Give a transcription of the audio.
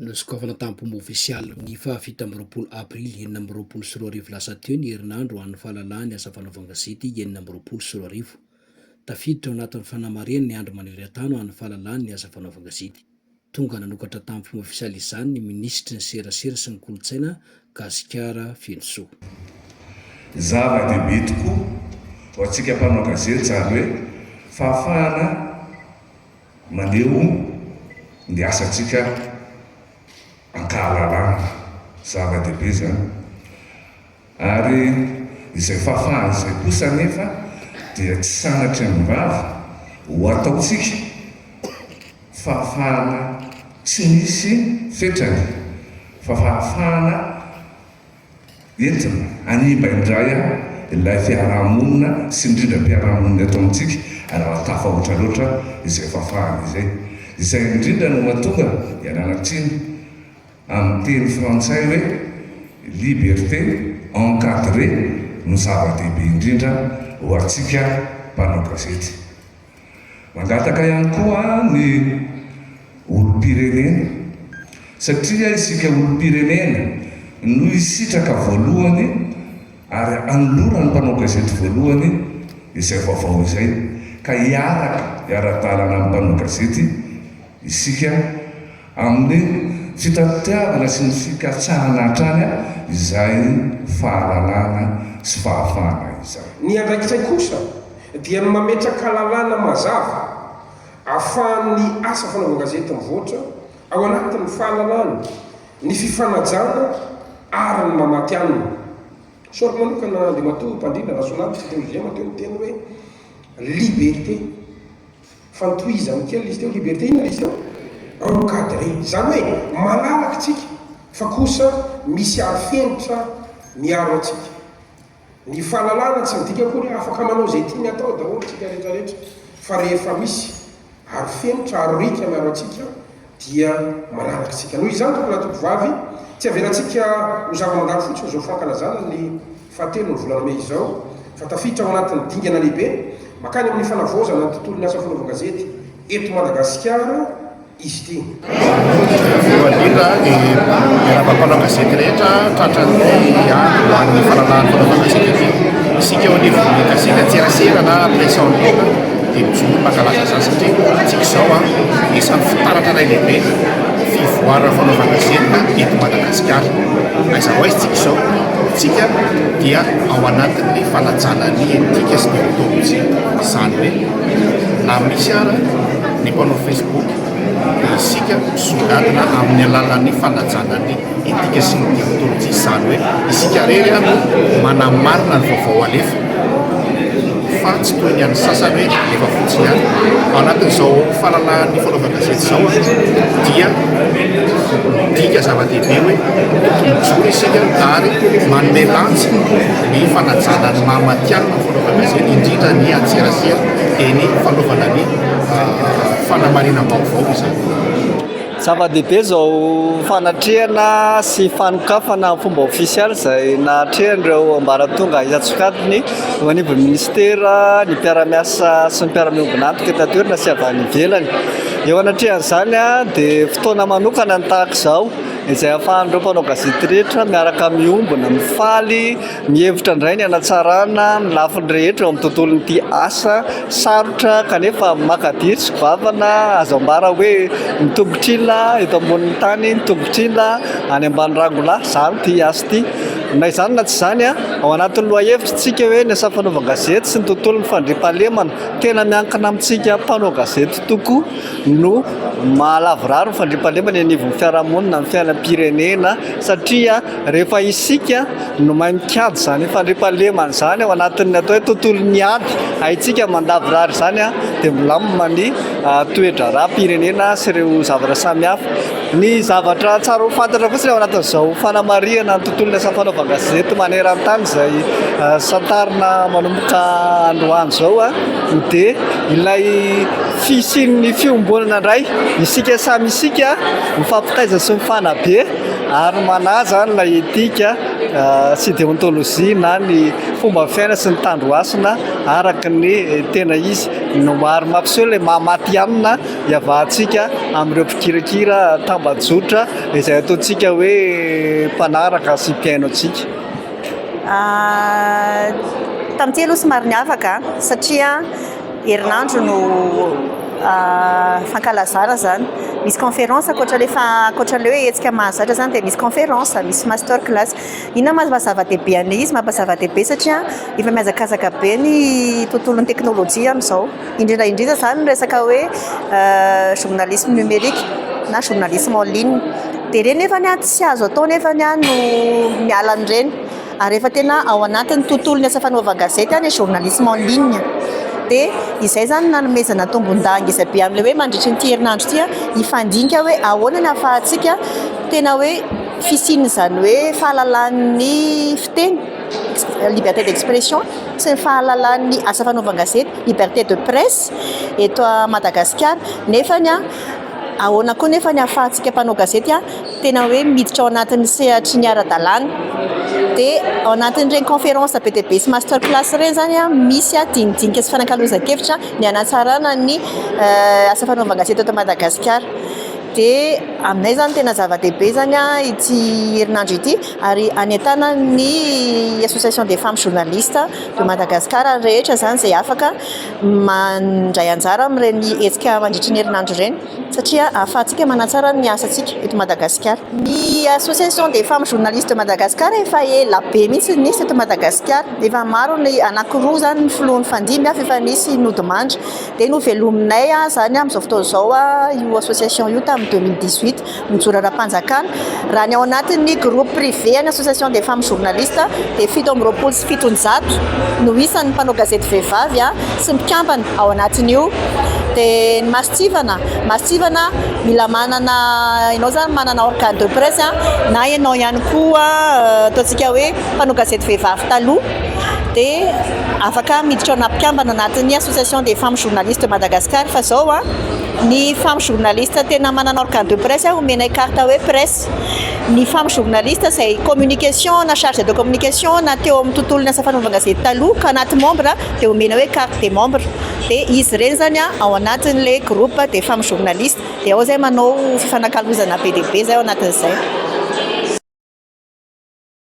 Nosokafana tamin'ny Pomo Ofisialy, ny faha fito amby roapolo Aprily enina amby roapolo sy roa arivo lasa teo ny herinandro ho an'ny fahalalahana ny asa fanaovan-gazety enina amby roapolo sy roa arivo. Tafiditra ao anatin'ny fanamarihana ny andro maneran-tany ho an'ny fahalalahana ny asa fanaovan-gazety. Tonga nanokatra tamin'ny Pomo Ofisialy izany ny Minisitry ny Serasera sy ny Kolontsaina Gasikara feno soa. Zava-dehibe tokoa ho antsika mpanao gazety izany hoe fahafahana maneho ny asantsika an-kahalalana. Zava-dehibe izany. Ary izay fahafahana izay kosa anefa dia tsy sanatria am-bava ho ataontsika. Fahafahana tsy misy fetrany fa fahafahana entina hanimba indray ilay fiaraha-monina sy indrindra mpiara-monina eto amintsika raha tafahoatra loatra izay fahafahana izay. Izay indrindra no mahatonga, ialana tsiny, amin'ny teny frantsay hoe liberté encadrée no zava-dehibe indrindra ho antsika mpanao gazety. Mangataka ihany koa ny olom-pirenena satria isika olom-pirenena no hisitraka voalohany ary hanoloran'ny mpanao gazety voalohany izay vaovao izay ka hiaraka hiara-dalana amin'ny mpanao gazety isika Amin'ny fitati-pitiavana sy ny fikatsahana hatrany izay fahalalana sy fahafahana izay. Ny andraikitray kosa dia ny mametraka lalàna mazava ahafahan'ny asa fanaovan-gazety mivoatra ao anatin'ny fahalalana, ny fifanajana ary ny mamatianina. Sorry manokana Andriamatoa Mpandrindra Rasoanalitra, teo Giema teo ny teny hoe Liberté. Fa tohizany kely izy teo, liberté inona ilay izy teo? Encadré, izany hoe manaraka isika fa kosa misy arifenitra miaro antsika. Ny fahalalana tsy midika akory hoe afaka manao izay tiany atao daholo isika rehetrarehetra, fa rehefa misy arifenitra, aroriaka miaro antsika dia manaraka antsika. Noho izany, tompoko lahy, tompoko vavy, tsy avelantsika ho zava-mandalo fotsiny izao fankalazana ny fahatelon'ny volana mey izao, fa tafiditra ao anatin'ny dingana lehibe mankany amin'ny fanavaozana ny tontolon'ny asa fanaovan-gazety eto Madagasikara izy ity. Voalohany indrindra dia miarahaba mpanao gazety rehetra tratran'ny andro ho an'ny fanalahany fanaovan-gazety ity. Isika eo anivon'ny gazety an-tserasera na presse en ligne, Dia ny Jono no mankalaza izany satria hoantsika izao anisan'ny fitaratra iray lehibe ny fivoaran'ny fanaovana zenona eto Madagasikara. Aiza ho aiza isika izao? Isika dia ao anatin'ny fanajana ny etika sy deontolojia. Izany hoe na misy ara ny mpanao Facebook dia isika misongadina amin'ny alalan'ny fanajana ny Etika sy ny deontolojia, izany hoe isika irery no manamarina ny vaovao alefa fa tsy toy ny an'ny sasany hoe alefa fotsiny ihany. Ao anatin'izao fahalalahan'ny fanaovan-gazety izao dia midika zava-dehibe hoe tokony mijoro isika ary manome lanjy ny fanajana ny maha matihanina ny fanaovan-gazety indrindra ny antserasera dia ny fanaovana ny ah, fanamarinam-baovao izany. Zava-dehibe izao fanatrehana sy fanokafana amin'ny fomba ofisialy izay nahatrehan'ireo ambaratonga isan-tsokajiny eo anivon'ny minisitera ny mpiara-miasa sy ny mpiara-miombon'antoka eto an-toerana sy avy any ivelany. Eo anatrehan'izany dia fotoana manokana ny tahaka izao izay ahafahan'ireo mpanao gazety rehetra miaraka miombona, mifaly Mihevitra indray ny hanatsarana ny lafiny rehetra eo amin'ny tontolon'ity asa sarotra kanefa makadiry sy goavana azo ambara hoe ny tongotr'ila eto ambonin'ny tany, ny tongotr'ila any ambany rangolahy zary ity asa ity. Na izany na tsy izany, ao anatin'ny lohahevitr'tsika hoe ny asa fanaovan-gazety sy ny tontolon'ny fandriampahalemana, tena miankina amintsika mpanao gazety tokoa no mahalavorary ny fandriampahalemana eny anivon'ny fiarahamonina, ny fiainam-pirenena satria, Rehefa isika no mahay mikajy izany fandriampahalemana izany ao anatin'ny atao hoe tontolon'ny ady haintsika mandavorary izany dia milamina ny toe-draharaham-pirenena sy ireo zavatra samihafa. Ny zavatra tsara ho fantatra fotsiny ao anatin'izao fanamarihana ny tontolon'ny asa fanaovan-gazety maneran-tany izay santarina manomboka androany izao dia ilay fisian'ny fiombonana indray isika samy isika mifampitaiza sy mifanabe. ary manaja ny ilay etika sy deontologie na ny fomba fiaina sy ny tandrohasina araka ny tena izy no maro mampiseho ilay mahamaty amina hiavahantsika amin'ireo mpikirakira tambajotra izay ataontsika hoe mpanaraka sy mpiaino antsika ah, tamin'ity aloha somary niavaka satria Herinandro no fankalazana zany. Misy conférence ankoatra le fa ankoatra le hoe hetsika mahazatra zany dia misy conférence, misy master class. Inona ma maha zava-dehibe an'le izy? Maha zava-dehibe satria efa mihazakazaka be ny tontolon'ny teknolojia amin'izao. Indrindra indrindra zany ny resaka hoe journalisme numérique na journalisme en ligne. Dia ireny nefany tsy azo atao nefany no miala an'ireny. Ary efa tena ao anatin'ny tontolon'ny asa fanaovan-gazety ny journalisme en ligne dia izay izany no nanomezana tombon-dahageza be amin'ilay hoe mandritry ity herinandro ity hifandinika hoe ahoana ny ahafahantsika tena hoe fisian'izany hoe fahalalan'ny fiteny, liberté d'expression, sy ny fahalalan'ny asa fanaovan-gazety, liberté de presse, eto Madagasikara. Nefany ahoana koa anefa ny ahafahantsika mpanao gazety tena hoe miditra ao anatin'ny sehatry ny ara-dalàna dia ao anatin'ireny conférence be dia be sy master class ireny izany an, misy an dinidinika sy fanakalozan-kevitra ny hanatsarana ny asa fanaovan-gazety eto Madagasikara dia aminay izany tena zava-dehibe izany an ity herinandro ity ary hanentana ny association des femmes journalistes de Madagascar rehetra izany izay afaka mandray anjara amin'ireny hetsika mandritra ny herinandro ireny satria ahafahantsika manatsara ny asantsika eto Madagasikara. Ny Association des femmes journalistes de Madagascar efa ela be mihitsy no nisy eto Madagasikara, efa maro ny, anankiroa izany ny filoha nifandimby fa efa nisy nodimandry, dia novelominay izany amin'izao fotoana izao io association io tamin'ny deux mille dix-huit. mijoro ara-panjakana. Raha ny ao anatin'ny groupe privé an'ny Association des femmes journalistes dia fito amby roapolo sy fitonjato no isan'ny mpanao gazety vehivavy sy mpikambana ao anatin'io. Dia ny Masontsivana, Masontsivana mila manana, ianao izany manana organe de presse na ianao ihany koa ataontsika hoe mpanao gazety vehivavy taloha dia afaka miditra ho ana-mpikambana anatin'ny Association des femmes journalistes de Madagascar fa izao. Ny femme journaliste tena manana organe de presse a omenay carte hoe presse ny femme journaliste izay communication na charge de communication na teo amin'ny tontolon'ny asa fanaovan-gazety taloha ka anaty membre dia omena hoe carte de membre dia izy ireny izany a ao anatin'ilay groupe des femmes journalistes dia ao izay manao fifanakalozana be dia be izay ao anatin'izay.